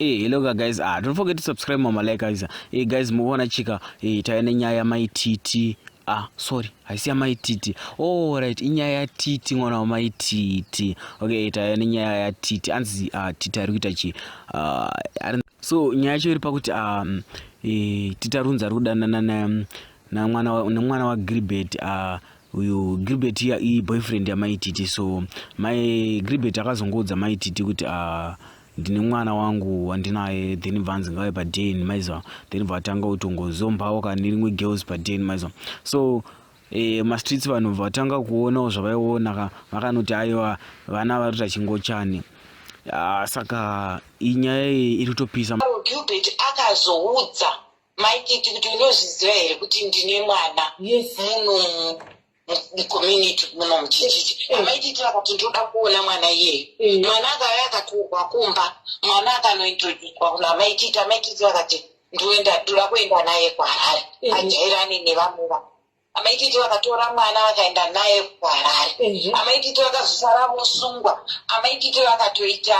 Hey, hello guys ah, don't forget to subscribe mama like guys hey, guys mukuona chika hey, tave nenyaya yamai titi ah sorry haisi yamai titi oh, right inyaya yatiti mwana wamai titi okay tave nenyaya yatiti anzi uh, ah, titi ari kuita chi uh, ari so nyaya yacho iri pakuti um, e, titarunza ari kudanana nemwana wagilbert uh, uyu gilbert iya iyi boyfriend yamaititi so mai gilbert akazongoudza maititi kuti uh, ndine mwana wangu wandinaye then bvanzi ngave paden maiziva then bvatanga kutongozombaoka nerimwe girls paden maiziva so e, mastreets vanhu vatanga kuonawo zvavaiona ka vakanoti aiwa vana vari kuita chingochani ah, saka inyaya iyi iri kutopisa gilbert akazoudza maikiti kuti unozviziva here kuti ndine mwana yes. munhu mucommunity muno muchichichi amaitiitira kuti ndoda kuona mwana iyeyo mm. mwana akauya akaturwa kumba mwana akanointroducwa kuno amaitiita amaitiiti vakati ndoenda ndoda kuenda naye kuharare mm. ajairane nevamuva amaititi vakatora mwana vakaenda naye kuharare amaititi vakazosara vosungwa amaititi vakatoita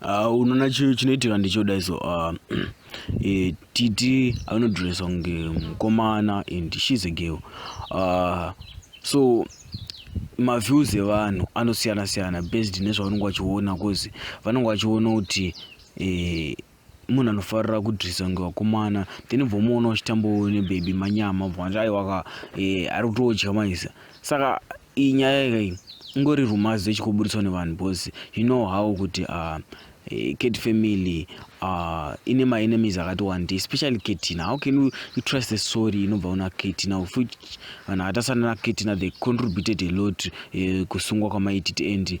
Ah, unoona chi- chinoitika ndichoda so uh, eh, titi anodressa kunge mukomana and shes a girl uh, so maviews evanhu anosiyana siyana based nezvavanenge vachiona cause vanenge vachiona kuti eh, munhu anofarira kudrisa kunge vakomana then bvomuona uchitambawo nebaby manyama bvati aiwaka eh, ari kutodya maisa saka iyi nyaya ikai ingori rumazi yechikuburitswa nevanhu bcause you know how kuti uh, eh, cat family uh, ine maenemies akati wandi especially katina how can you, you trust the story inobva una katina of which vanhu akatasana nakatina they contributed a lot uh, kusungwa kwamaititi and